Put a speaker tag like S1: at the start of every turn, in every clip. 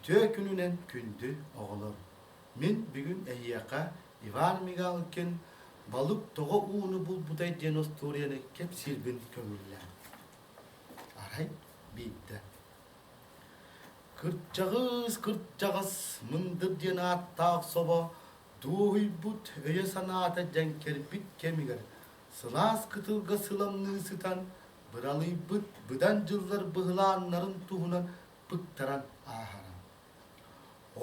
S1: Үтүө күнүнэн күндү оҕолор! Мин бүгүн эһиэхэ Иван Мигалкин «Балык тоҕо ууну булбутай?» диэн остуоруйаны кэпсиирбин көҥүллээн. Арай биирдэ «Кырдьаҕыс, кырдьаҕас, мындыр» диэн ааттаах собо дуоһуйбут өйө-санаата дьэҥкэрбит кэмигэр сылаас кытылга сыламныы сытан быралыйбыт быдан дьыллар быһылааннарын туһунан пыттаран ааһара.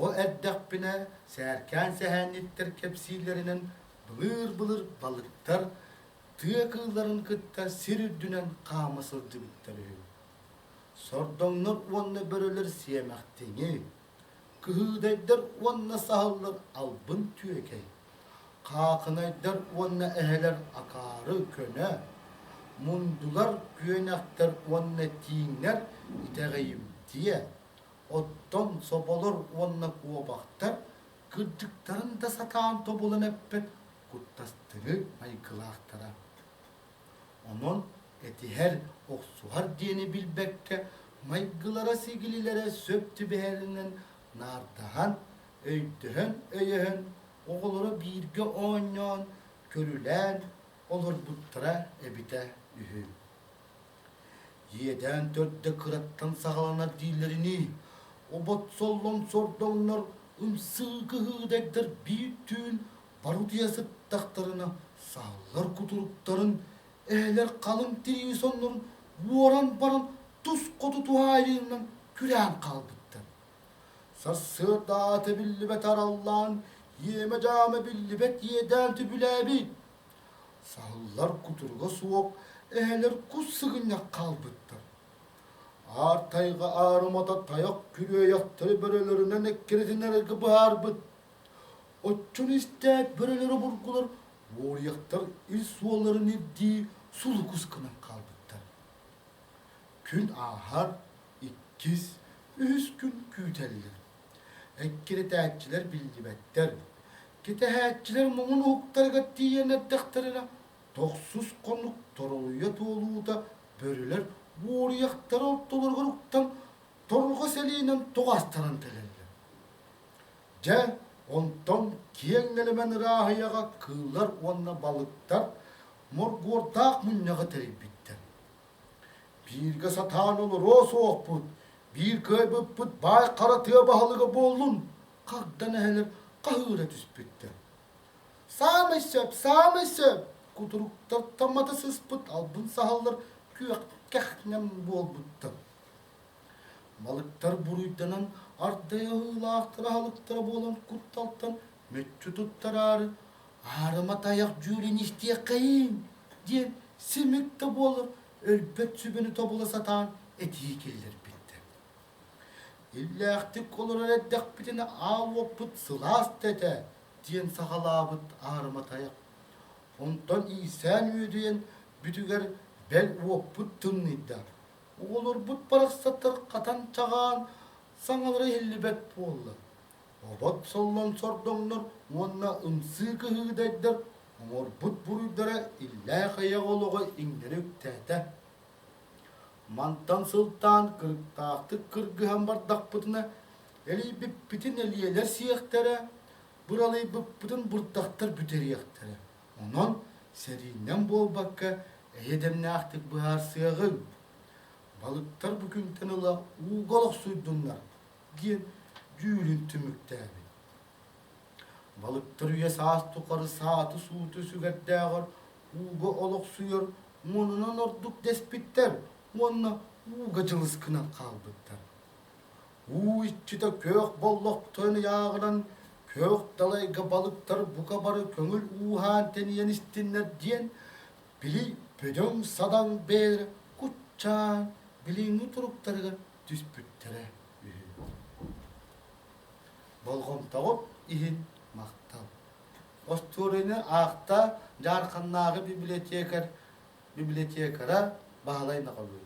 S1: О эрдэхпинэ сээркээн сэһээнньиттэр кэпсииллэринэн былыр-былыр балыктар тыа кыылларын кытта сир үрдүнэн хаама сылдьыбыттар үһү. Сордоҥнор уонна бөрөлөр сиэмэхтиҥи, кыһыыдайдар уонна саһыллар албын түөкэй Хаакынайдар уонна эһэлэр акаары көнө, мундулар күөнэхтэр уонна тииҥнэр итэҕэйимтиэ, оттон соболор уонна куобахтар кырдьыктарын да сатаан тобулан эппэт куттастыгы майгылаахтара. Онон этиһэр, охсуһар диэни билбэккэ майгылара-сигилилэрэ сөп түбэһэринэн наардаһан өйдөһөн-өйөһөн, оҕолоро бииргэ оонньоон, көрүлээн олорбуттара эбитэ үһү. Дьиэдээн төрдө кыраттан саҕаланар дииллэринии, обот-соллон сордоҥнор ымсыы кыһыыдайдар биир түүн барутуйа сыттахтарына сааллар кутуруктарын, эһэлэр халыҥ тирии соннорун буоран баран тус хоту туһаайыынан күрээн хаалбыттар. Сарсыардаата биллибэт араллаан, иэмэ-дьаама биллибэт иэдээн түбүлээбит. Саһыллар кутуруга суох эһэлэр кус сыгынньах хаалбыттар. Аар тайга аарымата тайах күрүөйэхтэри бөрөлөрүнэн эккирэтинэр эргэ быһаарбыт. Оччону истээт бөрөлөрө бургулар уоруйахтар ил суолларын ирдии сулукус гынан хаалбыттар. Күн ааһар, иккис, үһүс күн күүтэллэр. Эккирэтээччилэр биллибэттэр. Кэтэһээччилэр муҥун уһуктарыгар тиийэн эрдэхтэринэ, тохсус хонук торолуйа туолуута бөрүлэр уоруйахтара ортолоругар уктан, торҕо сэлиэнэн туҕастанан кэлэллэр. Дьэ, онтон киэҥ нэлэмэн ырааһыйаҕа кыыллар уонна балыктар моргуордаах мунньаҕы тэрийбиттэр. Бииргэ сатаан олоруо суохпут, биир кыайбыппыт баай хара тыа баһылыга буоллун хагдан эһэлэр хаһыыра түспүттэр. Саамай сөп, саамай сөп, кутуруктар тамата сыспыт албын саһаллар күөх кэхнэм буолбуттар Балыктар буруйданан ардай аһыылаахтар аһылыктара буолан кутталтан мүччү туттараары аарыма тайах дьүүлүн истиэххэйиин диэн симик да буолар өлбөт сүбэни тобула сатаан этии киллэрбиттэр. Иллээхтик олорор эрдэхпитинэ аал уоппут сылаас да этэ диэн сахалаабыт аарыма тайах. Онтон иисээн үөдүйэн бүтүгэр бэл уоппут тымныйда. Оҕолорбут барахсаттар хатан чаҕаан саҥалара иһиллибэт буолла. Обот соллон сордоҥнор уонна ымсыы кыһыыдайдар оҥорбут буруйдара иллээх айаҕа олоҕо иҥнэри үктээтэ. Мантан сылтаан кырыктаахтык кыргыһан бардахпытына, эрийбиппитин элиэлэр сиэхтэрэ, быралыйбыппытын бурдахтар бүтэриэхтэрэ. Онон сэрииннэн буолбакка эйэдэмнээхтик быһаарсыаҕыҥ. Балыктар бу күнтэн ыла ууга олохсуйдуннар диэн дьүүлүн түмүктээбит. Балыктар үйэ саас тухары сааты-сууту сүгэрдээҕэр ууга олохсуйар уонунан ордук дэспиттэр уонна ууга дьылыс гынан хаалбыттар. уу иччитэ күөх боллохтоон ыйааҕынан күөх далайга балыктар бука бары көҥүл ууһаан тэнийэн истиннэр диэн били бөдөҥ садаҥ бэйэлэрэ куччаан билиҥҥи туруктарыгар түспүттэрэ үһү болҕомтоҕут иһин махтал остуоруйаны аахта дьаарханнааҕы библиотекарь библиотекара баһылай наҕылын